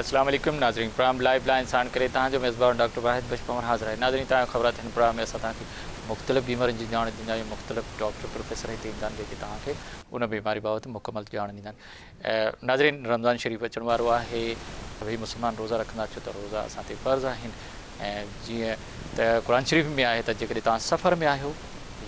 اسلام عليڪم ناظرين پروگرام لائيو لائين ساڻ ڪري توهان جو ميزبان ڊاڪٽر واحد بخش پنهور حاضر آهي ناظرين توهان کي خبر آهي ته هن پروگرام ۾ اسان توهان کي مختلف بيمارين جي ڄاڻ ڏيندا آهيون مختلف ڊاڪٽر پروفيسر هتي ايندا آهن جيڪي توهان کي ان بيماري بابت مڪمل ڄاڻ ڏيندا آهن ناظرين رمضان شريف اچڻ وارو آهي سڀئي مسلمان روزا رکندا ڇو ته روزا اسان تي فرض آهن ۽ جيئن ته قرآن شريف ۾ آهي ته جيڪڏهن توهان سفر ۾ آهيو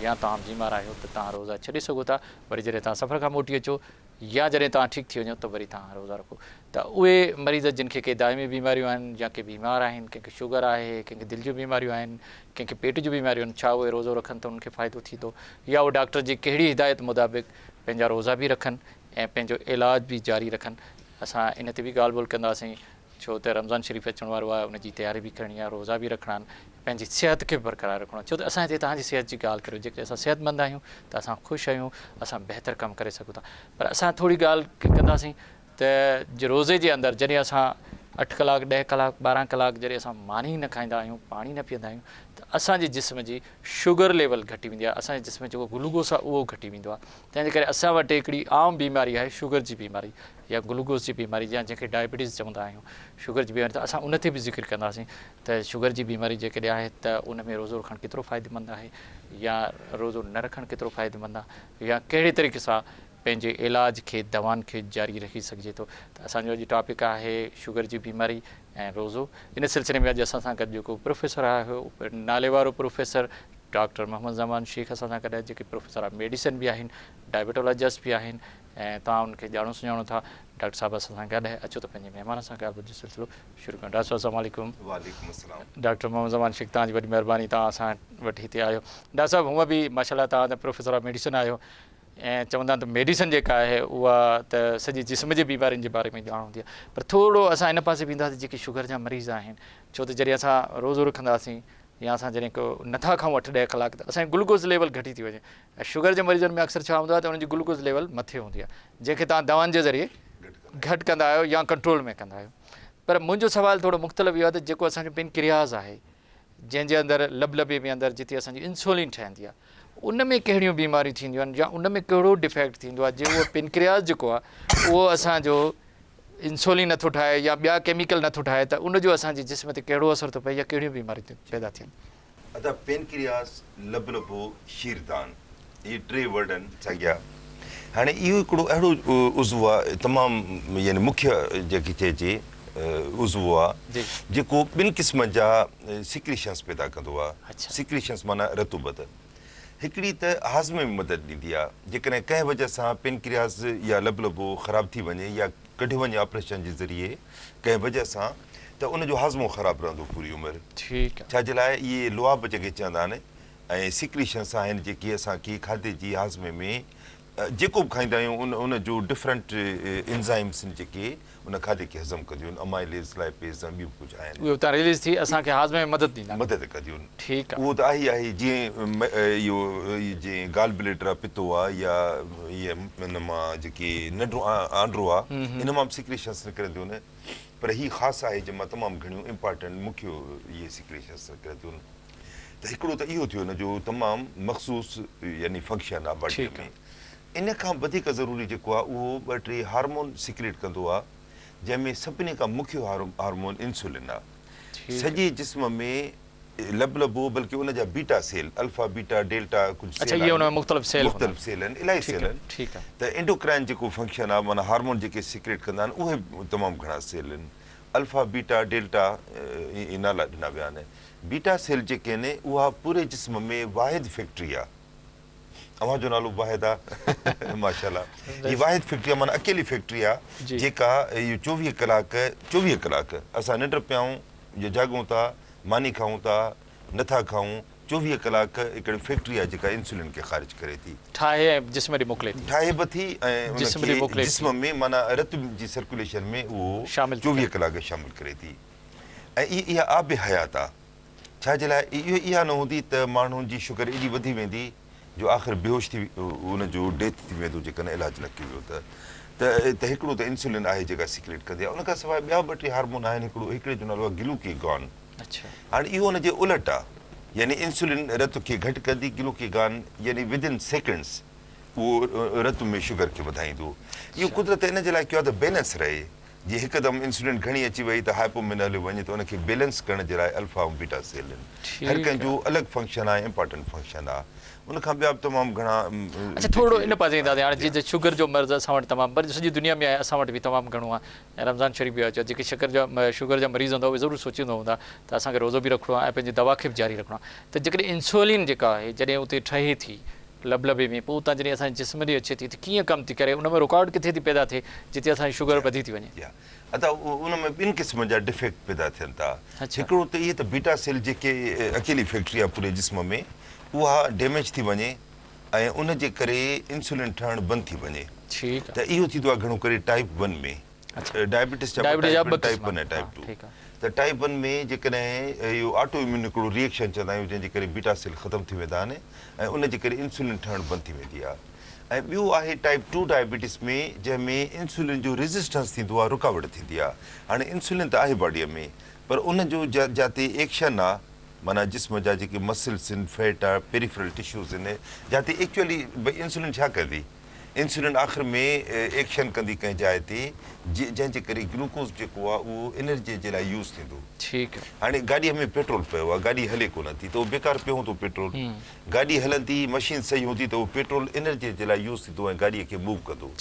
يا توهان بيمار آهيو ته توهان روزا ڇڏي سگهو ٿا وري جڏهن توهان سفر کان موٽي اچو يا جڏهن توهان ٺيڪ ٿي وڃو ته وري توهان روزا رکو ته اهي مريض جن کي ڪي دائمي بيماريون آهن يا ڪي بيمار آهن ڪنهن کي شگر آهي ڪنهن کي دل جون بيماريون آهن ڪنهن کي پيٽ جون بيماريون آهن ڇا اهي روزو رکن ته انهن کي فائدو ٿيندو يا اهي ڊاڪٽر جي ڪهڙي هدايت مطابق پنهنجا روزا به رکن ۽ پنهنجو علاج به جاري رکن اسان ان تي به ڳالهه ٻولهه ڪنداسين ڇو ته رمضان شريف اچڻ وارو آهي ان جي تياري به ڪرڻي آهي روزا به رکڻا آهن پنهنجي صحت کي به برقرار رکڻو آهي ڇو ته اسان هتي توهان جي صحت جي ڳالهه ڪريو جيڪڏهن اسان صحتمند آهيون ته اسان خوش آهيون اسان بهتر ڪم ڪري سگهون ٿا پر اسان ٿوري ڳالهه ڪنداسين ته جي روزي جي اندر جڏهن اسان اٺ ڪلاڪ ڏهه ڪلاڪ ٻارهن ڪلاڪ جڏهن اسان ماني ئي نه کائيندا آهيون پاڻي نه پيئندا آهيون ته اسان جي جسم جي شگر ليول گهٽي ويندي آهي اسان جي جسم جيڪو گلوڪوس آهي اهو گهٽي ويندو آهي تنهن جي ڪري اسان وٽ هڪڙي عام بيماري آهي شگر جي بيماري يا گلوڪوز جي بيماري يا جنهن کي ڊائبيٽيز چوندا آهيون شگر جي بيماري ته اسان ان تي به ذڪر ڪنداسين ته شگر جي بيماري جيڪڏهن آهي ته ان ۾ روزو رکڻ ڪيترو فائديمند آهي يا روزو نه رکڻ ڪيترو فائديمند آهي يا ڪهڙي طريقي سان پنهنجي علاج کي دوائن کي جاري رکي سگهجي ٿو ته اسان جو اڄ ٽاپڪ آهي شگر جي بيماري ۽ روزو ان سلسلي ۾ اڄ اسان سان گڏ جيڪو پروفيسر آهي ناليوارو پروفيسر ڊاڪٽر محمد زمان شيخ اسان سان گڏ آهي جيڪي پروفيسر آف ميڊيسن به آهن ڊائبيٽولاجسٽ به آهن ۽ توهان انهن کي ڄاڻو سڃاڻو ٿا. ڊاڪٽر صاحب اسان سان گڏ اچو ته پنهنجي مهمان سان ڳالهه ٻولهه جو سلسلو شروع ڪيون ڊاڪٽر صاحب السلام عليڪم. وعليڪم السلام. ڊاڪٽر محمد زمان شيخ توهان جي وڏي مهرباني توهان اسان وٽ هتي آيو ڊاڪٽر صاحب هونء به ماشاءالله توهان ته پروفيسر آف ميڊيسن آهيو ۽ چوندا آهن ته ميڊيسن جيڪا آهي اها ته سڄي جسم جي بيمارين جي باري ۾ ڄاڻ هوندي آهي پر ٿورو اسان ان پاسي وينداسين جيڪي شگر جا مريض آهن ڇو ته جڏهن اسان روزو رکنداسين يا اسان جڏهن ڪو نٿا کائون اٺ ڏهه ڪلاڪ ته اسان جي گلوڪوز ليول گهٽي ٿي وڃي ۽ شگر جي مريضن ۾ اڪثر ڇا هوندو آهي ته انهن جي گلوڪوز ليول مٿي هوندي آهي جنهن کي توهان دوائن جي ذريعي گهٽ ڪندا آهيو يا ڪنٽرول ۾ ڪندا آهيو پر منهنجو سوال ٿورو مختلف اهو آهي ته جيڪو اسان جو پنڪرياز آهي جنهن جي اندر لبلبي ۾ اندر جتي اسان جي انسولين ٺهندي آهي ان ۾ ڪهڙيون بيماريون ٿينديون آهن يا ان ۾ ڪهڙو ڊفيڪٽ ٿيندو آهي جي اهو پينڪرياس جيڪو آهي اهو اسان جو انسولين نٿو ٺاهي يا ٻيا ڪيميڪل نٿو ٺاهي ته ان جو اسان جي جسم تي ڪهڙو اثر ٿو پئي يا ڪهڙيون بيماريون پيدا ٿين ٿيون. ادا پينڪرياس، لبلبو، شيردان اهي ٽي ورڊ آهن ساڳيا. هاڻي اهو هڪڙو اهڙو عضو آهي تمام يعني مکيه جنهن کي چئجي. عضوو آ جيڪو ٻن قسمن جا سيڪريشنز پيدا ڪندو آ سيڪريشنز معنيٰ رطوبت هڪڙي ته هاضمي ۾ مدد ڏيندي آ جيڪڏهن ڪنهن وجه سان پينڪرياس يا لبلبو خراب ٿي وڃي يا ڪڍيو وڃي آپريشن جي ذريعي ڪنهن وجه سان ته ان جو هاضمو خراب رهندو پوري عمر ڇا جي لاء اهي لعاب جنهن کي چوندا آهن ۽ سيڪريشنز آهن جيڪي اسان کي کاڌي جي هاضمي ۾ جيڪو به کائيندا آهيون ان ان جو ڊفرنٽ انزائمس ان جيڪي ان کاڌي کي هضم ڪنديون آهن امائليز لائپيز ۽ ٻيون به ڪجهه آهن اهي اتان ريليز ٿي اسان کي هاضمي ۾ مدد ڏيندا مدد ڪنديون ٺيڪ آهي اهو ته آهي ئي آهي جيئن اهو جيئن گال بليڊر آهي پتو آهي يا ائين ان مان جيڪي ننڊو آنڊرو آهي ان مان به سيڪريشنس نڪرن ٿيون نه پر هي خاص آهي جنهن مان تمام گهڻيون امپارٽنٽ مکيو اهي سيڪريشنس نڪرن ٿيون ته هڪڙو ته اهو ٿيو نه جو تمام مخصوص يعني فنڪشن آهي باڊي ۾ ان کان وڌيڪ ضروري جيڪو آهي اهو ٻه ٽي هارمون سيڪريٽ ڪندو آهي جنهن ۾ سڀني کان مکيو هارمون انسولين آهي سڄي جسم ۾ لب لبو بلڪه ان جا beta cell alpha beta delta ڪجهه سيل آهن مختلف سيل مختلف سيل آهن الائي سيل آهن ته انڊوڪرائن جيڪو فنڪشن آهي معنيٰ هارمون جيڪي سيڪريٽ ڪندا آهن اهي تمام گهڻا سيل آهن الفا، بيٽا، ڊيلٽا اهي نالا ڏنا ويا آهن. بيٽا سيل جيڪي آهن اها پوري جسم ۾ واحد فيڪٽري آهي. اوهان جو نالو به واحد آهي. ماشاءالله. هي واحد فيڪٽري آهي معنيٰ اڪيلي فيڪٽري آهي جيڪا اهي چوويهه ڪلاڪ چوويهه ڪلاڪ اسان ننڊ پيائون جاڳون ٿا ماني کائون ٿا نه ٿا کائون، چوويهه ڪلاڪ هڪڙي فيڪٽري آهي جيڪا انسولين کي خارج ڪري ٿي. ٺاهي ۽ جسم ڏي موڪلي ٿي. ٺاهي به ٿي ۽ ان کي جسم ۾ معنيٰ رت جي سرڪيوليشن ۾ اهو چوويهه ڪلاڪ شامل ڪري ٿي ۽ اهي اها آب حيات آ ڇا جي لاء اهي اها نه هوندي ته ماڻهن جي شگر ايڏي وڌي ويندي جو آخر بيهوش ٿي ان جو ڊيٿ ٿي ويندو جيڪڏهن علاج نه ڪيو ويو ته ته هڪڙو ته انسولين آهي جيڪا سيڪريٽ ڪندي آهي ان کان سواء ٻيا ٻه ٽي هارمون آهن هڪڙو هڪڙي جو نالو آهي گلوڪي گان هاڻي اهو ان جي الٽ آهي يعني انسولين رت کي گهٽ ڪندي گلوڪي گان يعني ودن سيڪنڊس اهو رت ۾ شگر کي وڌائيندو اهو قدرت ان جي لاء ڪيو آهي ته بيلنس رهي جي هڪدم انسولين گهڻي اچي وئي ته هائپومين هليو وڃي ته ان کي بيلنس ڪرڻ جي لاء الفا ۽ بيٽا سيل آهن هر ڪنهن جو الڳ فنڪشن آهي امپارٽنٽ فنڪشن آهي ان کان ٻيا به تمام گهڻا اچا ٿورڙو ان پاسي اينداسين هاڻي جي جي شگر جو مرض اسان وٽ تمام پر سڄي دنيا ۾ آهي اسان وٽ به تمام گهڻو آهي ۽ رمضان شريف به اچي جيڪي شڪر جا شگر جا مريض هوندا اهي ضرور سوچيندا هوندا ته اسان کي روزو به رکڻو آهي ۽ پنهنجي دوا کي به جاري رکڻو آهي ته جيڪڏهن انسولين جيڪا آهي جڏهن اتي ٺهي ٿي لبلبي ۾ پوء اتان جڏهن اسان جي جسم ڏي اچي ٿي ته ڪيئن ڪم ٿي ڪري ان ۾ رڪاوٽ ڪٿي ٿي پيدا ٿئي جتي اسان جي شگر وڌي ٿي وڃي. ادا ان ۾ ٻن قسمن جا ڊفيڪٽ پيدا ٿين ٿا هڪڙو ته اهي ته بيٽا سيل جيڪي اڪيلي فيڪٽري آهي پوري جسم ۾ اها ڊيميج ٿي وڃي ۽ ان جي ڪري انسولين ٺهڻ بند ٿي وڃي ته اهو ٿيندو آهي گهڻو ڪري ٽائيپ ون ۾. ڊائبيٽس چئبو آهي type one type one type two ته ٽائيپ ون ۾ جيڪڏهن اهو آٽو اميون هڪڙو ريئڪشن چوندا آهيون جنهن جي ڪري بيٽا سيل ختم ٿي ويندا آهن ۽ ان جي ڪري انسولين ٺهڻ بند ٿي ويندي آهي ۽ ٻيو آهي ٽائيپ ٽو ڊائبيٽس ۾ جنهن ۾ انسولين جو ريزسٽنس ٿيندو آهي رڪاوٽ ٿيندي آهي هاڻي انسولين ته آهي باڊي ۾ پر ان جو جاتي ايڪشن آهي معنيٰ جسم جا جيڪي مسلس آهن فيٽ آهي پيريفرل ٽشوز آهن جاتي ايڪچوئلي انسولين ڇا ڪندي. انسولين آخر ۾ ايڪشن ڪندي ڪنهن جاء تي جنهن جي ڪري گلوڪوز جيڪو آهي اهو انرجي جي لاء يوز ٿيندو. هاڻي گاڏيء ۾ پيٽرول پيو آهي گاڏي هلي ڪونه ٿي ته اهو بيڪار پيو هوندو پيٽرول گاڏي هلندي مشين صحيح هوندي ته اهو پيٽرول انرجي جي لاء يوز ٿيندو ۽ گاڏيء کي موو ڪندو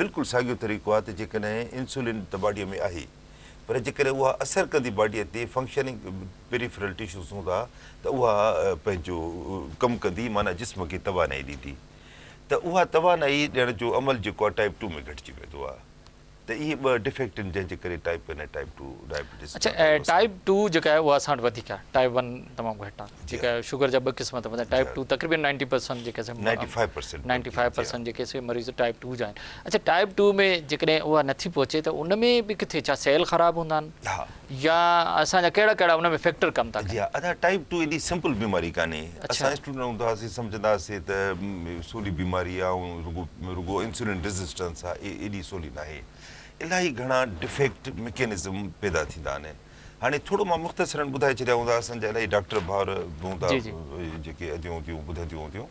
بلڪل ساڳيو طريقو آهي ته جيڪڏهن انسولين ته باڊيء ۾ آهي پر جيڪڏهن اها اثر ڪندي باڊيء تي فنڪشننگ پيريفرل ٽشوز هوندا ته اها پنهنجو ڪم ڪندي معنيٰ جسم کي توانائي ڏيندي. ته اها توانائي ڏيڻ جو عمل جيڪو آهي ٽائيپ ٽو ۾ گهٽجي ويندو آهي ته اهي ٻه ڊفيڪٽ آهن جنهن جي ڪري type one ۽ type two diabetes اڇا ٽائيپ ٽو جيڪا آهي اها اسان وٽ وڌيڪ آهي ٽائيپ ون تمام گهٽ آهي جيڪا آهي شگر جا ٻه قسم اٿم ٽائيپ ٽو تقريبن نائنٽي پرسنٽ جيڪا سي ninety five percent ninety five percent جيڪي سي مريض ٽائيپ ٽو جا آهن اڇا ٽائيپ ٽو ۾ جيڪڏهن اها نٿي پهچي ته ان ۾ به ڪٿي ڇا سيل خراب هوندا آهن يا اسان جا ڪهڙا ڪهڙا ان ۾ فيڪٽر ڪم ٿا ڪن. جي ها ادا ٽائيپ ٽو ايڏي سمپل بيماري ڪانهي اسان اسٽوڊنٽ هوندا هئاسين سمجهندا هئاسين ته سولي بيماري آهي ۽ رڳو رڳو انسولين ريزسٽنس آهي ايڏي سولي ناهي الاهي گهڻا ڊفيڪٽ مڪينزم پيدا ٿيندا آهن هاڻي ٿورو مان مختصرن ٻڌائي ڇڏيا هوندا اسان جا الاهي ڊاڪٽر ڀائر به هوندا جيڪي اديون اديون ٻڌنديون هونديون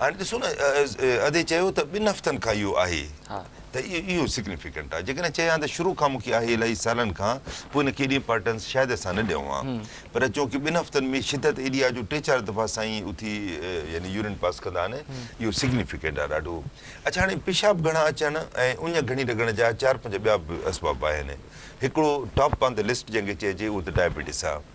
هاڻي ڏسو نه ادي چيو ته ٻن هفتن کان اهو آهي ته اهو سگنيفيڪنٽ آهي جيڪڏهن چئي ها ته شروع کان مون کي آهي الائي سالن کان پوء ان کي ايڏي امپارٽنس شايد اسان نه ڏيون ها پر چونڪه ٻن هفتن ۾ شدت ايڏي آهي جو ٽي چار دفعا سائين اٿي يعني يورين پاس ڪندا آهن اهو سگنيفيڪنٽ آهي ڏاڍو اڇا هاڻي پيشاب گهڻا اچڻ ۽ اڃ گهڻي لڳڻ جا چار پنج ٻيا به اسباب آهن هڪڙو ٽاپ آن ته لسٽ جنهن کي چئجي اهو ته ڊائبيٽس آهي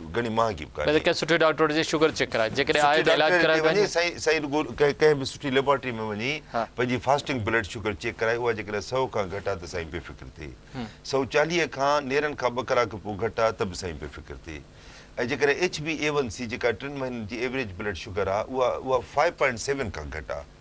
گهڻي مهانگي به ڪانهي. پهرين ڪنهن سٺي ڊاڪٽر وٽ وڃي شگر چيڪ ڪرائي، جيڪڏهن آهي ته علاج ڪرائي پنهنجي. سٺي ڊاڪٽر وٽ وڃي، سائين سائين ڪنهن به سٺي ليبارٽري ۾ وڃي پنهنجي فاسٽنگ بلڊ شگر چيڪ ڪرائي، اها جيڪڏهن سؤ کان گهٽ آهي ته سائين بي فڪر ٿي، سؤ چاليهه کان نيرن کان ٻه ڪلاڪ پوء گهٽ آهي ته به سائين بي فڪر ٿي ۽ جيڪڏهن H B A one C جيڪا ٽن مهينن جي ايوريج بلڊ شگر آهي اها اها فائيو پوائنٽ سيون کان گهٽ آهي.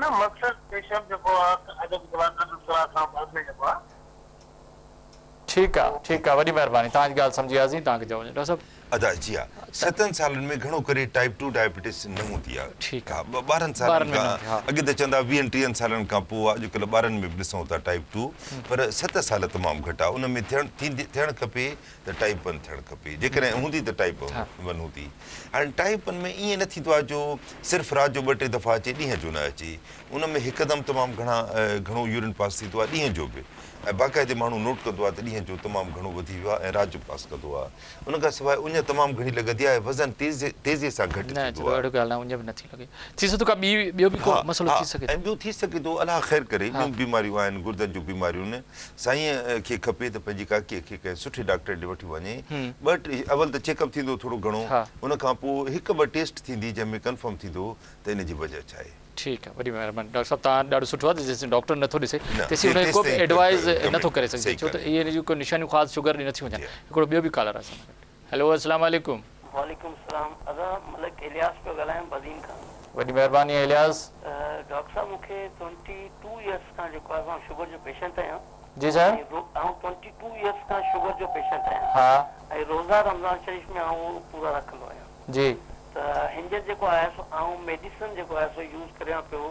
نه مقصد پيشرف جيڪو آ ادب جوان ادب سرا سان ڀر ۾ جيڪو آ. ٺيڪ آ ٺيڪ آ وڏي مهرباني توهان جي ڳالهه سمجهي وياسين توهان کي جواب ڏيندا سڀ. ادا جي ها ستن سالن ۾ گهڻو ڪري ٽائيپ ٽو ڊائبيٽس نه هوندي آ ٺيڪ آ ٻارهن سالن ٻارن ۾ نه کان هوندي ها. اڳي ته چوندا ويهن ٽيهن سالن کان پوء آ اڄڪلهه ٻارن ۾ به ڏسون ٿا ٽائيپ ٽو پر ست سال تمام گهٽ آ ان ۾ ٿيڻ ٿيندي ٿيڻ کپي ته ٽائيپ ون ٿيڻ کپي جيڪڏهن هوندي ته ٽائيپ ون هوندي هاڻي ٽائيپ ون ۾ ائين نه ٿيندو آهي جو صرف رات جو ٻه ٽي دفعا اچي ڏينهن جو نه اچي ان ۾ هڪدم تمام گهڻا گهڻو يورين پاس ٿيندو آهي ڏينهن جو به ۽ باقاعدي ماڻهو نوٽ ڪندو آهي ته ڏينهن جو تمام گهڻو وڌي ويو آهي ۽ رات جو پاس ڪندو آهي ان کان سواء اڃ تمام گهڻي لڳندي آهي وزن تيزي تيزي سان گهٽ ٿيندو آهي نه اهڙو ڳالهه نه اڃ به نه ٿي لڳي ٿي سگهي ٿو ڪا ٻي ٻيو به ڪو مسئلو ٿي سگهي ٿو ۽ ٻيو ٿي سگهي ٿو الله خير ڪري ٻيون بيماريون آهن گردن جون بيماريون سائينء کي کپي ته پنهنجي ڪاڪيء کي ڪنهن سٺي ڊاڪٽريء ڏي وٺي وڃي. ٻه ٽي اول ته چيڪ اپ ٿيندو ٿورو گهڻو، ان کان پوء هڪ ٻه ٽيسٽ ٿيندي جنهن ۾ ڪنفرم ٿيندو ته ان جي وجهه ڇا آهي. ٺيڪ آهي وڏي مهرباني ڊاڪٽر صاحب توهان ڏاڍو سٺو آهي ته جيسين ڊاڪٽر نٿو ڏسي تيسين ان کي ڪو به ايڊوائز نٿو ڪري سگهجي ڇو ته اهي ان جون ڪو نشانيون خاص شگر جون نٿيون هجن هڪڙو ٻيو به ڪالر آهي اسان سان گڏ. هيلو اسلام عليڪم. وعليڪم السلام ادا ملڪ الياس پيو ڳالهايان بدين کان. وڏي مهرباني الياس. ڊاڪٽر صاحب مون کي ٽوئنٽي ٽو ايئرس کان جيڪو آهي سو آئون شگر جو پيشنٽ آهيان جي سر. ۽ رو آئون ٽوئنٽي ٽو ايئرس کان شگر جو پيشنٽ آهيان ها. ۽ روزا رمضان شريف ۾ آئون پورا رکندو آهيان جي. ته هينجر جيڪو آهي سو آئون ميڊيسن جيڪو آهي سو يوز ڪريان پيو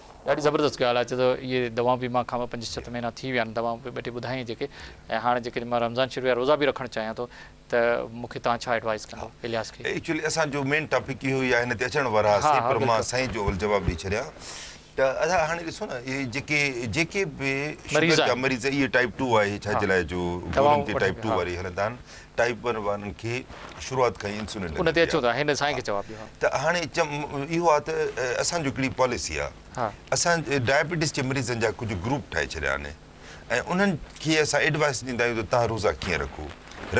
ڏاڍي زبردست ڳالهه آهي ڇو ته اهي دوائون به مان کان پنج ست مهينا ٿي ويا آهن دوائون به ٻه ٽي ٻڌايائين جيڪي ۽ هاڻ جيڪي مان رمضان شريف جا روزا به رکڻ چاهيان ٿو ته مون کي توهان ڇا ايڊوائيس ڪندو الياس کي. ايڪچولي اسان جو مين ٽاپڪ اهو ئي آهي هن تي اچڻ وارا هاسين پر مان سائين جو اول جواب ڏئي ڇڏيان ته ادا هاڻي ڏسو نه اهي جيڪي جيڪي به شگر جا مريض اهي ٽائيپ ٽو آهي ڇا جي لاء جو گولين تي ٽائيپ ٽو واري هلندا آهن ٽائيپ ون وارن کي شروعات کان ئي انسولين ڏني وئي آهي. هن سائين کي جواب ڏيو. ته هاڻي اهو آهي ته اسان جو هڪڙي پاليسي آهي. اسان ڊائبيٽيز جي مريضن جا ڪجهه گروپ ٺاهي ڇڏيا آهن ۽ انهن کي اسان ايڊوائيس ڏيندا آهيون ته تان روزا ڪيئن رکو.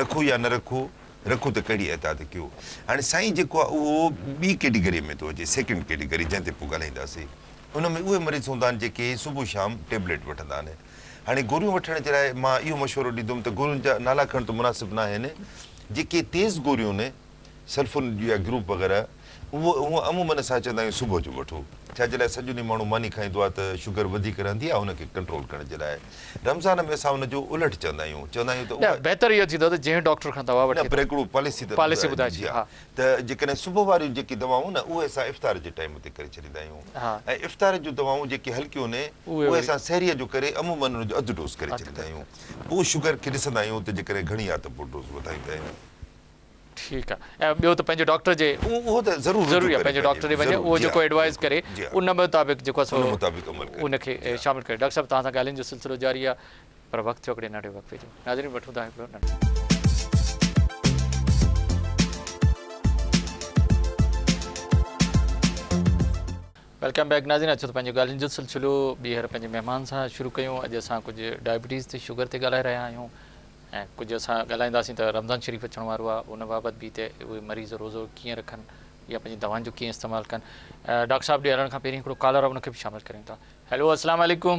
رکو يا نه رکو. رکو ته ڪهڙي اعتاد ڪيو. هاڻي سائين جيڪو آهي اهو ٻي ڪيٽيگريء ۾ ٿو اچي سيڪنڊ ڪيٽيگري جنهن تي پوء ڳالهائينداسين. ان ۾ اهي مريض هوندا آهن جيڪي صبح شام ٽيبليٽ وٺندا آهن. هاڻي گوريون وٺڻ جي لاء مان اهو مشورو ڏيندم ته گورين جا نالا کڻڻ ته مناسب نه آهن. جيڪي تيز گوريون آهن، سلفون جون يا گروپ وغيره، اهي عمومن اسان چوندا آهيون صبح جو وٺو. ڇا جي لاء سڄو ڏينهن ماڻهو ماني کائيندو آهي ته شگر وڌيڪ رهندي آهي ان کي ڪنٽرول ڪرڻ جي لاء. رمضان ۾ اسان ان جو الٽ چوندا آهيون. چوندا آهيون ته اها. نه بهتر اهو ٿيندو ته جنهن ڊاڪٽر کان دوا وٺي ٿو. نه پر هڪڙو پاليسي ته ٻڌائجي. پاليسي ٻڌائجي ها. ته جيڪڏهن صبح واريون جيڪي دوائون نه اهي اسان افطار جي ٽائيم تي ڪري ڇڏيندا آهيون ۽ افطار جون دوائون جيڪي هلڪيون نه اهي اسان سحريء جو ڪري عموماً ان جو اڌ ڊوز ڪري ڇڏيندا آهيون پوء شگر کي ڏسندا آهيون ته جيڪڏهن گهڻي آهي ته پوء ڊوز وڌائيندا آهيون. ٺيڪ آ ۽ ٻيو ته پنهنجي ڊاڪٽر جي اهو ته ضرور رجوع ڪري پنهنجي ڊاڪٽر ڏي وڃي اهو جيڪو ايڊوائز ڪري ان مطابق جيڪو سو ان کي شامل ڪري ڊاڪٽر صاحب توهان سان ڳالهين جو سلسلو جاري آ پر وقت ٿيو هڪڙي ننڍي وقفي جو ناظرين وٺون ٿا هڪڙو ننڍو. ويلڪم بيڪ ناظرين اچو ته پنهنجو ڳالهين جو سلسلو ٻيهر پنهنجي مهمان سان شروع ڪيون اڄ اسان ڪجهه ڊائبيٽيز تي شگر تي ڳالهائي رهيا آهيون ۽ ڪجهه اسان ڳالهائينداسين ته رمضان شريف اچڻ وارو آهي ان بابت به ته اهي مريض روزو ڪيئن رکن يا پنهنجي دوائن جو ڪيئن استعمال ڪن ڊاڪٽر صاحب ڏي هلڻ کان پهرين هڪڙو ڪالر آهي ان کي به شامل ڪريون ٿا هيلو السلام عليڪم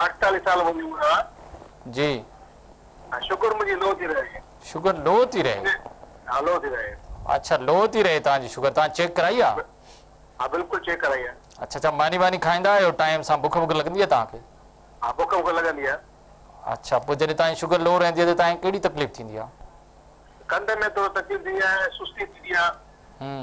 اٺتاليهه سال منهنجي عمر آ. جي. ۽ شگر منهنجي لو ٿي رهي. شگر لو ٿي رهي. ها لو ٿي رهي. اڇا لو ٿي رهي تهان جي شگر تهان چيڪ ڪرائي آ. ها بلڪل چيڪ ڪرائي آ. اڇا اڇا ماني واني کائيندا آهيو ٽائيم سان بک وک لڳندي آ تهان کي. ها بک وک لڳندي آ. اڇا پوء جڏهن تهان جي شگر لو رهندي آ ته تهان کي ڪهڙي تڪليف ٿيندي آ. ڪنڌ ۾ ٿورو تڪليف ٿيندي آ ۽ سستي ٿيندي آ. هم.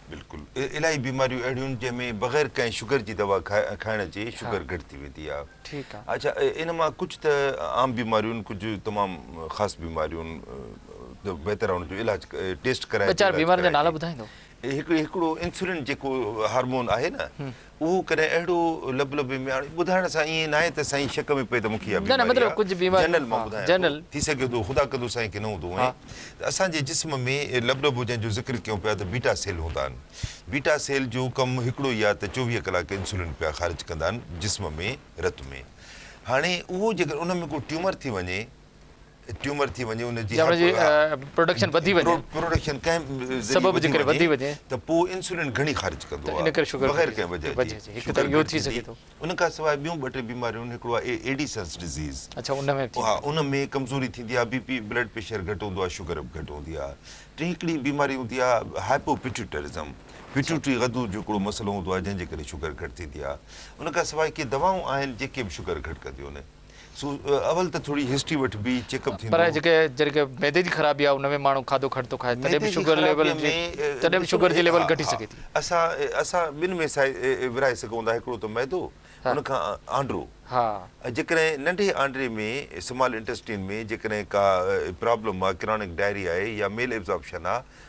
بلڪل الاهي بيماريون اهڙيون جنهن ۾ بغير ڪنهن شگر جي دوا کائڻ جي شگر گهٽ ٿي ويندي آهي اڇا ان مان ڪجهه ته عام بيماريون ڪجهه تمام خاص بيماريون ته بهتر آهي ان جو علاج ٽيسٽ ڪرائي ويچار بيمارين جا نالا ٻڌائيندو هڪڙو انسولين جيڪو هارمون آهي نه اهو ڪڏهن اهڙو لب لبي ۾ آڻي ٻڌائڻ سان ائين ناهي ته سائين شڪ ۾ پئي ته مون کي اها بيماري آهي. جنرل مان ٻڌايان ٿو. ٿي سگهي ٿو خدا ڪندو سائين ڪي نه هوندو هونئن ته اسان جي جسم ۾ لب لبو جنهن جو ذڪر ڪيون پيا ته بيٽا سيل هوندا آهن. بيٽا سيل جو ڪم هڪڙو ئي آهي ته چوويهه ڪلاڪ انسولين پيا خارج ڪندا آهن جسم ۾ رت ۾. هاڻي اهو جيڪڏهن ان ۾ ڪو ٽيومر ٿي وڃي. ٽيومر ٿي وڃي ان جي پروڊڪشن وڌي وڃي پروڊڪشن ڪنهن سبب جي ڪري وڌي وڃي ته پوء انسولين گهڻي خارج ڪندو آهي ان ڪري شوگر بغير ڪنهن وجه جي هڪ ته اهو ٿي سگهي ٿو ان کان سواء ٻيون ٻه ٽي بيماريون هڪڙو آهي ايڊيسنس ڊزيز اڇا ان ۾ ها ان ۾ ڪمزوري ٿيندي آهي بي پي بلڊ پريشر گهٽ هوندو آهي شوگر به گهٽ هوندي آهي ٽي هڪڙي بيماري هوندي آهي هائپو پيٽيوٽرزم پيٽيوٽري غدو جو هڪڙو مسئلو هوندو آهي جنهن جي ڪري شوگر گهٽ ٿيندي آهي ان کان سواء ڪي دوائون آهن جيڪي به شوگر گهٽ ڪنديون آهن سو اول ته ٿوري هسٽري وٺ بي چيڪ اپ ٿيندو. پر جيڪي جيڪي معدي جي خرابي آهي ان ۾ ماڻهو کاڌو گهٽ ٿو کائي تڏهن به شگر ليول جي تڏهن به شگر جي ليول گهٽي سگهي ٿي. اسان اسان ٻن ۾ سائي ورهائي سگهون ٿا هڪڙو ته معدو ان کان آنڊرو ۽ جيڪڏهن ننڍي آنڊري ۾ سمال انٽيسٽين ۾ جيڪڏهن ڪا پرابلم آهي ڪرانڪ ڊائري آهي يا ميل ابزاربشن آهي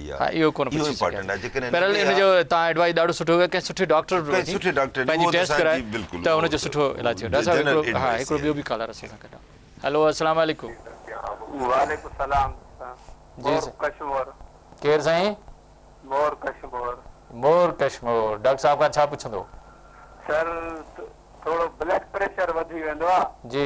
ها اهو ڪونه پڇي سگهيا بهرحال ان جو تان ايڊوائيز ڏاڍو سٺو ڪيو ڪنهن سٺي ڊاڪٽر به وڃي پنهنجي ٽيسٽ ڪرائي ته ان جو سٺو علاج ٿيو ڊاڪٽر صاحب هڪڙو ها هڪڙو ٻيو به ڪالر اسان سان گڏ هلو السلام عليڪم وعليڪم السلام جي ڪشمور ڪير سائين مور ڪشمور مور ڪشمور ڊاڪٽر صاحب کان ڇا پڇندو سر ٿورو بلڊ پريشر وڌي ويندو آ جي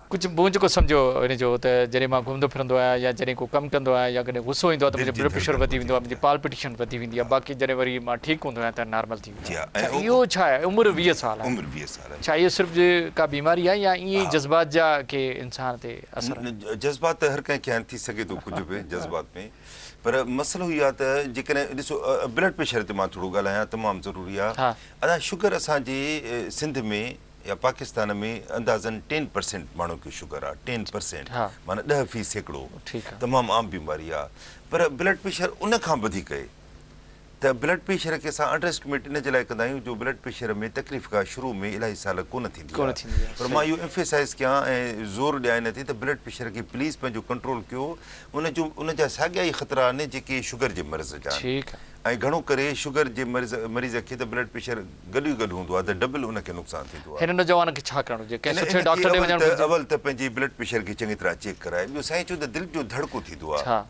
ڪجهه مون جيڪو سمجهيو ان جو ته جڏهن مان گهمندو ڦرندو آهيان يا جڏهن ڪو ڪم ڪندو آهيان يا ڪڏهن غصو ايندو آهي ته منهنجو بلڊ پريشر وڌي ويندو آهي منهنجي پالپيٽيشن وڌي ويندي آهي باقي جڏهن وري مان ٺيڪ هوندو آهيان ته نارمل ٿي ويندو آهيان اڇا اهو ڇا آهي عمر ويهه سال آهي ڇا اهو صرف ڪا بيماري آهي يا ائين ئي جذبات جا ڪي انسان تي اثر آهن. جذبات ته هر ڪنهن کي آهن ٿي سگهي ٿو ڪجهه به جذبات ۾ پر مسئلو اهو آهي ته جيڪڏهن ڏسو بلڊ پريشر تي مان ٿورو ڳالهايان تمام ضروري آهي ادا شگر اسان جي سنڌ ۾ يا پاڪستان ۾ اندازن ٽين پرسينٽ ماڻهن کي شگر آ ٽين پرسينٽ معنيٰ ڏهه في سيڪڙو تمام عام بيماري آ پر بلڊ پريشر ان کان وڌيڪ اهي ته بلڊ پريشر کي اسان انڊر اسٽيميٽ ان جي لاء ڪندا آهيون جو بلڊ پريشر ۾ تڪليف ڪا شروع ۾ الاهي سال ڪونه ٿيندي آ پر مان اهو ايمفيسائز ڪيان ۽ زور ڏيان ان تي ته بلڊ پريشر کي پليز پنهنجو ڪنٽرول ڪيو ان جو ان جا ساڳيا ئي خطرا آهن جيڪي شگر جي مرض جا آهن ۽ گهڻو ڪري شگر جي مريض کي ته بلڊ پريشر گڏيو گڏ هوندو آهي ته ڊبل ان کي نقصان ٿيندو آهي. هن نوجوان کي ڇا ڪرڻ گهرجي؟ ڪنهن سٺي ڊاڪٽر ڏي وڃڻ گهرجي. اول ته پنهنجي بلڊ پريشر کي چڱي طرح چيڪ ڪرائي. ٻيو سائين چون ته دل جو ڌڙڪو ٿيندو آهي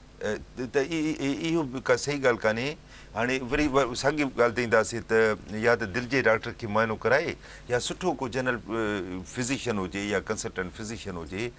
ته اهو به ڪا صحيح ڳالهه ڪانهي. هاڻي وري ساڳي ڳالهه تي اينداسين ته يا ته دل جي ڊاڪٽر کي معائنو ڪرائي يا سٺو ڪو جنرل فزيشن هجي يا ڪنسلٽنٽ فزيشن هجي.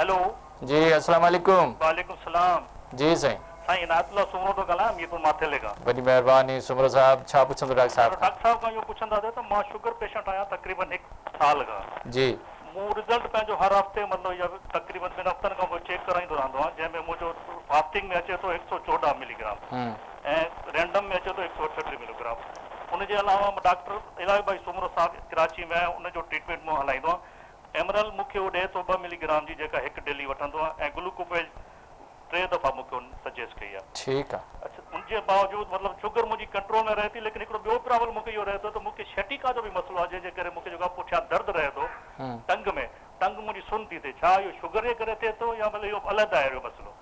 هيلو. جي اسلام عليڪم. وعليڪم سلام. جي سائين. سائين عنايت الله سومرو ٿو ڳالهايان ميرپور ماٿيلي کان. وڏي مهرباني سومرو صاحب ڇا پڇندو ڊاڪٽر صاحب کان. ڊاڪٽر صاحب کان اهو پڇنداسي ته مان شگر پيشنٽ آهيان تقريبن هڪ سال کان. جي. مون رزلٽ پنهنجو هر هفتي مطلب يا تقريبن ٻن هفتن کان پوء چيڪ ڪرائيندو رهندو آهيان جنهن ۾ منهنجو فاسٽنگ ۾ اچي ٿو هڪ سؤ چوڏهن ملي گرام ۽ رينڊم ۾ اچي ٿو هڪ سؤ اٺٽيهه ملي گرام ان جي علاوه مان ڊاڪٽر الاهي ڀائي سومرو صاحب ڪراچي ۾ آهي ان جو ٽريٽمينٽ مان هلائيندو آهيان ايمرل مون کي اهو ڏئي ٿو ٻه ملي گرام جي جيڪا هڪ ڊيلي وٺندو آهيان ۽ گلوڪوفيج ٽي دفعا مون کي ان سجيسٽ ڪئي آهي. ٺيڪ آهي. اڇا ان جي باوجود مطلب شگر منهنجي ڪنٽرول ۾ رهي ٿي ليڪن هڪڙو ٻيو پرابلم مون کي اهو رهي ٿو ته مون کي شيٽيڪا جو به مسئلو آهي جنهن جي ڪري مون کي جيڪو آهي پٺيان درد رهي ٿو ٽنگ ۾ ٽنگ منهنجي سن ٿي ٿئي ڇا اهو شگر جي ڪري ٿئي ٿو يا مطلب اهو علحده آهي اهو مسئلو.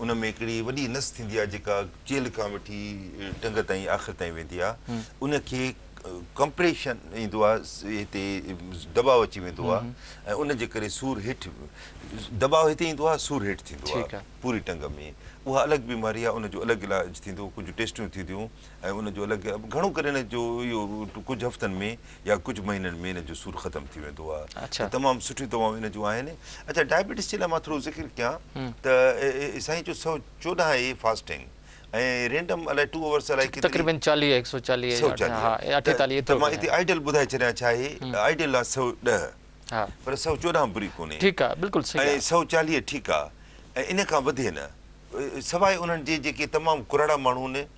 ان ۾ هڪڙي وڏي نس ٿيندي آهي جيڪا چيلهه کان وٺي ٽنگ تائين آخر تائين ويندي آهي ان کي ڪمپريشن ايندو آهي هتي دٻاء اچي ويندو آهي ۽ ان جي ڪري سور هيٺ دٻاء هتي ايندو آهي سور هيٺ ٿيندو آهي پوري ٽنگ ۾ اها الڳ بيماري آهي ان جو الڳ علاج ٿيندو ڪجهه ٽيسٽون ٿينديون ۽ ان جو الڳ گهڻو ڪري ان جو اهو ڪجهه هفتن ۾ يا ڪجهه مهينن ۾ ان جو سور ختم ٿي ويندو آهي ته تمام سٺيون دوائون ان جون آهن اچا ڊائبيٽس جي لاء مان ٿورو ذڪر ڪيان ته سائين جو سو چوڏهن اي فاسٽنگ ۽ رينڊم الائي ٽو اورس الائي ڪيتري تقريبن چاليهه هڪ سو چاليهه سو چاليهه اٺيتاليهه ته مان هتي آئيڊل ٻڌائي ڇڏيان ڇا آهي آئيڊل آهي سو ڏهه پر سو چوڏهن بري ڪونهي ٺيڪ آهي بلڪل صحيح ۽ سو چاليهه ٺيڪ آهي ۽ ان کان وڌي نه سواء انهن جي جيڪي تمام ڪراڙا ماڻهو آهن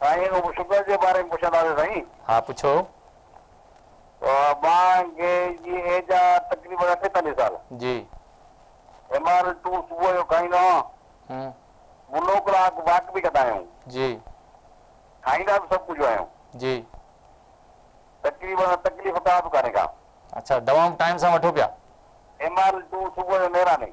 سائين رڳو شگر جي باري ۾ پڇنداسين سائين. ها پڇو. مان گي جي ايج آ تقريبن اٺيتاليھ سال. جي. ايم آر ٽو صبح جو کائيندو آهيان. ھمم. منو ڪلاڪ واڪ به ڪندا آهيون. جي. کائيندا به سڀ ڪجهه آهيون. جي. تقريبن تڪليف ڪا به ڪانهي ڪا. اڇا دوائون ٽائيم سان وٺو پيا. ايم آر ٽو صبح جو نيراني.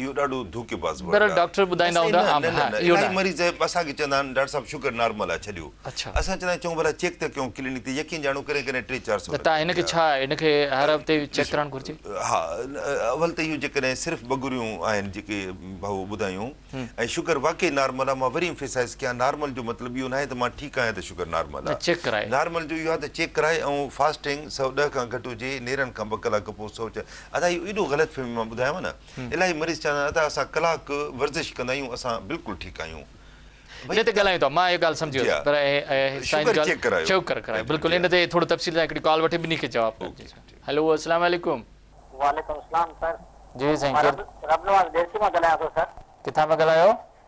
اهو ڏاڍو ڌوڪي باز ورڊ آهي. ڊاڪٽر ٻڌائيندا اسين هوندا نه نه نه نه اهو نه الائي آهي. مريض اهي اسان کي چوندا آهن ڊاڪٽر صاحب شگر نارمل آهي ڇڏيو اڇا. اسان چوندا آهيون چئون ڀلا چيڪ ته ڪيون ڪلينڪ تي يقين ڄاڻو ڪڏهن ڪڏهن ٽي چار سؤ لڳي ته هن کي ويندا. ڇا آهي هن کي هر هفتي ڏسو چيڪ ڪرائڻ گهرجي. ها اول ته اهو جيڪڏهن صرف ٻگهريون آهن جيڪي ڀائو ٻڌايون ۽ شگر واقعي نارمل آهي مان وري Emphasize ڪيان نارمل جو مطلب اهو ناهي ته مان ٺيڪ آهيان ته شگر نارمل نه چيڪ آهي ڪرائي. نارمل جو اهو آهي ته چيڪ ڪرائي ۽ فاسٽنگ سؤ ڏهه کان گهٽ هجي نيرن کان ٻه ڪلاڪ پوء سؤ چار ادا اهو ايڏو غلط فهمي مان ٻڌايو نه الاهي مريض چوندا آهن ادا اسان ڪلاڪ ورزش ڪندا آهيون اسان بلڪل ٺيڪ آهيون ان تي ڳالهايون ٿا مان اهي ڳالهه سمجهي ويس پر اهي شوگر چيڪ ڪرايو شوگر ڪرايو بلڪل ان تي ٿورو تفصيل سان هڪڙي ڪال وٺي ٻنهي کي جواب ڪجي هلو اسلام عليڪم. وعليڪم اسلام سر جي سائين ڪير رب نواز ڏيرڪي مان ڳالهايان ٿو سر ڪٿان پيا ڳالهايو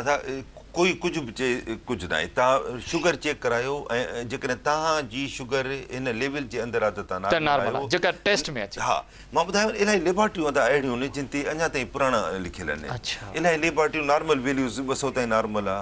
ادا ڪوئي ڪجهه به چئي ڪجهه ناهي تان شگر چيڪ ڪرايو ۽ جيڪڏهن تان جي شگر ان ليول جي اندر آ ته تان نارمل آهيو جيڪا ٽيسٽ ۾ اچي ها مان ٻڌايو نه الاهي ليبارٽريون ادا اهڙيون آهن جن تي اڃا تائين پراڻا لکيل آهن الاهي ليبارٽريون نارمل ويليوز ٻه سؤ تائين نارمل آ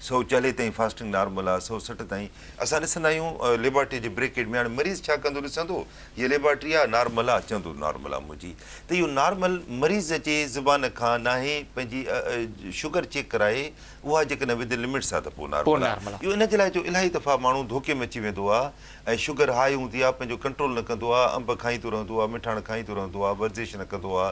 سؤ چاليهه تائين فاسٽنگ نارمل آ سؤ سٺ تائين اسان ڏسندا آهيون ليبارٽري جي بريڪيٽ ۾ هاڻي مريض ڇا ڪندو ڏسندو هيء ليبارٽري آ نارملا چوندو نارملا منهنجي ته اهو نارمل مريض جي زبان کان ناهي پنهنجي شگر چيڪ ڪرائي اها جيڪڏهن ودن لمٽس آ ته پوء نارملا اهو ان جي لاء جو الاهي دفعا ماڻهو ڌوڪي ۾ اچي ويندو آ ۽ شگر هاء هوندي آ پنهنجو ڪنٽرول نه ڪندو آ انب کائيندو رهندو آ مٺاڻ کائيندو رهندو آ ورزش نه ڪندو آ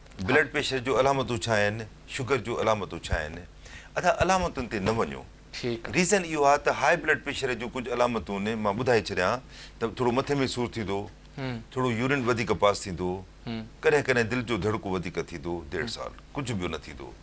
بلڊ پريشر جون علامتون ڇا آهن، شگر جون علامتون ڇا آهن؟ ادا علامتن تي نه وڃو. ريزن اهو آهي ته هاء بلڊ پريشر جون ڪجهه علامتون مان ٻڌائي ڇڏيان ته ٿورو مٿي ۾ سور ٿيندو، ٿورو يورين وڌيڪ پاس ٿيندو، ڪڏهن ڪڏهن دل جو ڌڙڪو وڌيڪ ٿيندو، ديڙ سال ڪجهه ٻيو نه ٿيندو.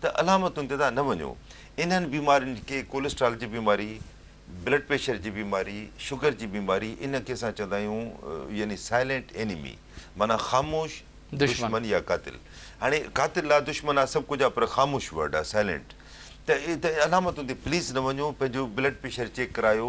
ته علامتن تي تان نه وڃو. انهن بيمارين کي ڪوليسٽرال جي بيماري، بلڊ پريشر جي بيماري، شگر جي بيماري ان کي اسان چوندا آهيون يعني سائلينٽ اينمي معنيٰ خاموش دشمن يا قاتل. هاڻي قاتل آ دشمن آ سڀ ڪجهه آ پر خاموش ورڊ آ سائلينٽ ته علامتن تي پليز نه وڃو پنهنجو بلڊ پريشر چيڪ ڪرايو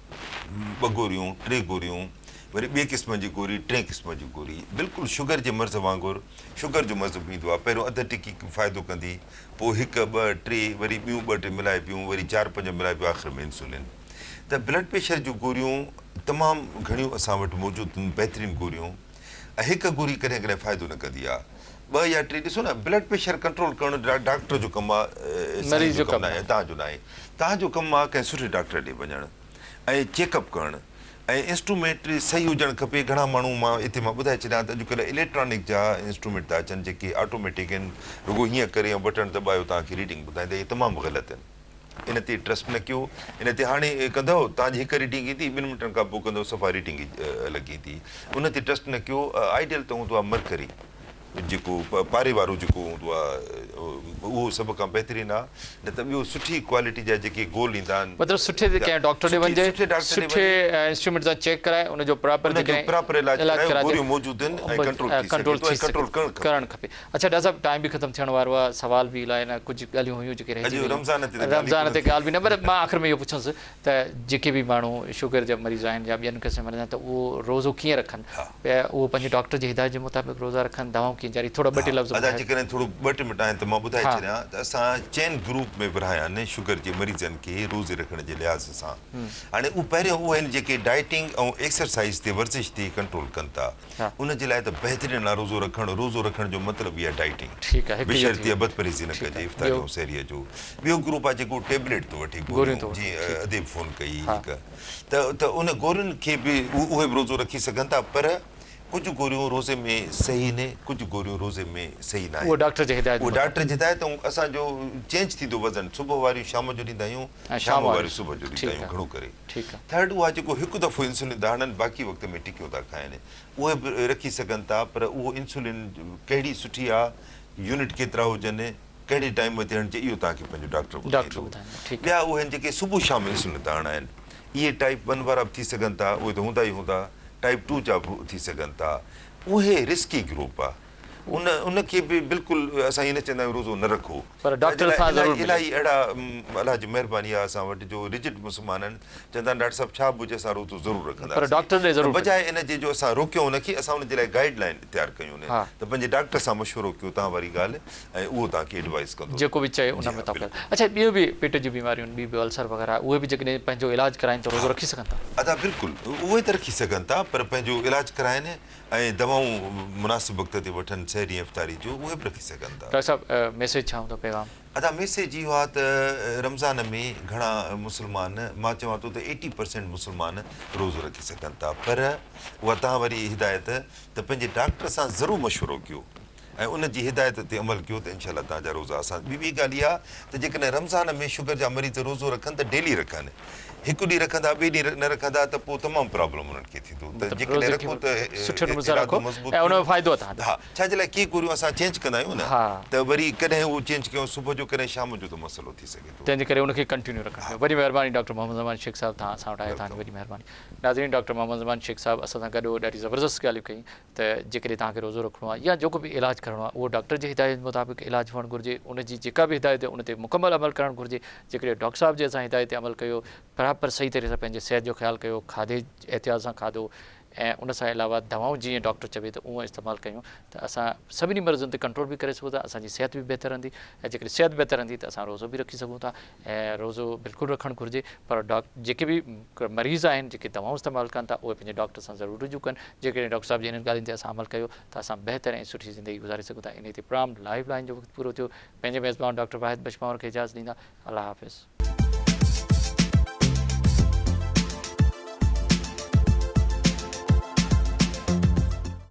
ٻه گوريون، ٽي گوريون، وري ٻئي قسم جي گوري، ٽئين قسم جي گوري. بلڪل شگر جي مرض وانگر شگر جو مرض به ايندو آهي. پهريون اڌ ٽڪي فائدو ڪندي، پوء هڪ، ٻه، ٽي، وري ٻيون ٻه ٽي ملائبيون، وري چار پنج ملائبيون آخر ۾ انسولين. ته بلڊ پريشر جون گوريون تمام گهڻيون اسان وٽ موجود هونديون بهترين گوريون. ۽ هڪ گوري ڪڏهن ڪڏهن فائدو نه ڪندي آ ٻه يا ٽي ڏسو نه بلڊ پريشر ڪنٽرول ڪرڻ ڊاڪٽر جو ڪم آ سائين جو ڪم نه آهي توهان جو نه آهي توهان جو ڪم آ ڪنهن سٺي ڊاڪٽر ڏي وڃڻ ۽ چيڪ اپ ڪرڻ ۽ انسٽرومينٽري صحيح هجڻ کپي گهڻا ماڻهو مان اتي مان ٻڌائي ڇڏيان ته اڄڪلهه اليڪٽرانڪ جا انسٽرومينٽ ٿا اچن جيڪي آٽوميٽڪ آهن رڳو هيئن ڪري يا بٽڻ دٻايو توهان کي ريڊنگ ٻڌائيندا اهي تمام غلط آهن. ان تي ٽرسٽ نه ڪيو ان تي هاڻي ڪندؤ تان جي هڪ ريڊنگ ايندي ٻن منٽن کان پوء ڪندؤ صفا ريڊنگ ئي الڳ ايندي ان تي ٽرسٽ نه ڪيو آئيڊيل ته هوندو آهي مرڪري جيڪو پاري وارو جيڪو هوندو آهي اهو سڀ کان بهترين آهي نه ته ٻيو سٺي ڪوالٽي جا جيڪي گول ايندا آهن مطلب سٺي تي ڪنهن ڊاڪٽر ڏي وڃجي سٺي ڊاڪٽر ڏي وڃي سٺي انسٽرومينٽ سان چيڪ ڪرائي ان جو پراپر ان جو پراپر علاج ڪرائي گوريون موجود آهن ۽ ڪنٽرول ٿي سگهي ٿو ڪنٽرول ڪرڻ کپي اڇا ڊاڪٽر صاحب ٽائيم به ختم ٿيڻ وارو آ سوال به الائي نه ڪجهه ڳالهيون هيون جيڪي رهجي ويون رمضان تي ڳالهه به نه پر مان آخر ۾ اهو پڇنس ته جيڪي به ماڻهو شگر جا مريض آهن يا ٻين قسم جا مريض آهن ته اهو روزو ڪيئن رکن اهو پنهنجي ڊاڪٽر جي هدايت جي مطابق روزا رکن دوائون ڪيئن جاري ٿورا ٻه ٽي لفظ ٻڌايو جيڪڏهن ٿورو ٻه ٽي منٽ آهن ته مان ٻڌائي ڇڏيان ته اسان چئن گروپ ۾ ورهايا آهن شگر جي مريضن کي روزي رکڻ جي لحاظ سان هاڻي اهو پهريون اهي آهن جيڪي ڊائيٽنگ ۽ ايڪسرسائيز تي ورزش تي ڪنٽرول ڪن ٿا ان جي لاء ته بهترين لاء روزو رکڻ، روزو رکڻ جو مطلب ئي آهي ڊائيٽنگ. بشرطيء بدپرهيزي نه ڪجي افطاري ۽ سحريء جو. ٻيو گروپ آهي جيڪو ٽيبليٽ ٿو وٺي، گوريون، جي اديب فون ڪئي هڪ ته ته ان گورين کي به اهي به روزو رکي سگهن ٿا پر ڪجهه گوريون روزي ۾ صحيح نه ڪجهه گوريون روزي ۾ صحيح ناهن. اهو ڊاڪٽر جي هدايت مطابق. اهو ڊاڪٽر جي هدايت ۽ اسان جو چينج ٿيندو وزن صبح واريون شام جو ڏيندا آهيون شام واريون صبح جو ڏيندا آهيون گهڻو ڪري. ٿرڊ اها جيڪو هڪ دفعو انسولين داڙن باقي وقت ۾ ٽڪيو ٿا کائن اهي به رکي سگهن ٿا پر اهو انسولين ڪهڙي سٺي آ يونٽ ڪيترا هجن ڪهڙي ٽائيم تي هڻجي اهو توهان کي پنهنجو ڊاڪٽر ٻڌائيندو ٻيا اهي آهن جيڪي صبح شام انسولين ٿا هڻائن اهي ٽائيپ ون وارا به ٿي سگهن ٿا اهي ته هوندا ئي هوندا ٽائيپ ٽو جا به ٿي سگهن ٿا اهي رسڪي گروپ آ. ان ان کي به بلڪل اسان ائين نه چئندا آهيون روزو نه رکو. پر ڊاڪٽر سان ضرور ملو. الاهي اهڙا الله جي مهرباني آهي اسان وٽ جو رجڊ مسلمان آهن چوندا آهن ڊاڪٽر صاحب ڇا به هجي اسان روزو ضرور رکنداسين. پر ڊاڪٽر ڏي ضرور ملو. بجاء ان جي جو اسان روڪيون ان کي اسان ان جي لاء گائيڊ لائين اختيار ڪيون نه ته پنهنجي ڊاڪٽر سان مشورو ڪيو تان واري ڳالهه ۽ اهو توهان کي ايڊوائيز ڪندو. جيڪو به چئي ان مطابق هل. اڇا ٻيو به پيٽ جون بيماريون ٻيون به السر وغيره اهي به جيڪڏهن پنهنجو علاج ڪرائين ته روزو رکي سگهن ٿا. ادا بلڪل اهي ته رکي سگهن ٿا پر پنهنجو علاج ڪرائين ۽ دوائون مناسب وقت تي وٺن سحري ۽ افطاري جون اهي به رکي سگهن ٿا. ڊاڪٽر صاحب ميسيج ڇا هوندو پيغام. ادا ميسيج اهو آ ته رمضان ۾ گهڻا مسلمان مان چوان ٿو ته ايٽي پرسينٽ مسلمان روزو رکي سگهن ٿا پر اها توهان واري هدايت ته پنهنجي ڊاڪٽر سان ضرور مشورو ڪيو ۽ ان جي هدايت تي عمل ڪيو ته انشاء الله توهان جا روزا آسان ٿي ويندا. ٻي ڳالهه اها ته جيڪڏهن رمضان ۾ شگر جا مريض روزو رکن ته ڊيلي رکن. هڪ ڏينهن رکندا ٻئي ڏينهن نه رکندا ته پوء تمام پرابلم انهن کي ٿيندو ته جيڪڏهن رکون ته ارادو مضبوط ٿيندو. ها ڇا جي لاء ڪيئي گوريون اسان چينج ڪندا آهيون نه ته وري ڪڏهن اهو چينج ڪيون صبح جو ڪڏهن شام جو ته مسئلو ٿي سگهي ٿو. تنهنجي ڪري ان کي ڪنٽينيو رکڻ کپي. وڏي مهرباني ڊاڪٽر محمد زمان شيخ صاحب توهان اسان وٽ آيو توهان جي وڏي مهرباني. ناظرين ڊاڪٽر محمد زمان شيخ صاحب اسان سان گڏ هو ڏاڍي زبردست ڳالهيون ڪيائين. ته جيڪڏهن توهان کي روزو رکڻو آهي يا جيڪو به علاج ڪرڻو آهي اهو ڊاڪٽر جي هدايت مطابق علاج هئڻ گهرجي ان جي جيڪا به هدايت ان تي مڪمل عمل ڪرڻ گهرجي جيڪڏهن ڊاڪٽر صاحب جي اسان هدايت تي عمل ڪيو پراپر صحيح طريقي سان پنهنجي صحت جو خيال ڪيو کاڌي احتياط سان کاڌو ۽ ان سان علاوه دوائون جيئن ڊاڪٽر چوي ته اهو استعمال ڪيون ته اسان سڀني مرضن تي ڪنٽرول به ڪري سگهون ٿا اسان جي صحت به بهتر رهندي ۽ جيڪڏهن صحت بهتر رهندي ته اسان روزو به رکي سگهون ٿا ۽ روزو بلڪل رکڻ گهرجي پر جيڪي به مريض آهن جيڪي دوائون استعمال ڪن ٿا اهي پنهنجي ڊاڪٽر سان ضرور رجوع ڪن جيڪڏهن ڊاڪٽر صاحب جي هنن ڳالهين تي اسان عمل ڪيو ته اسان بهتر ۽ سٺي زندگي گذاري سگهون ٿا انهي تي پرام لائيو لائين جو وقت پورو ٿيو پنهنجي ميزبان ڊاڪٽر واحد بخش پنهور کي اجازت ڏيندا الله حافظ.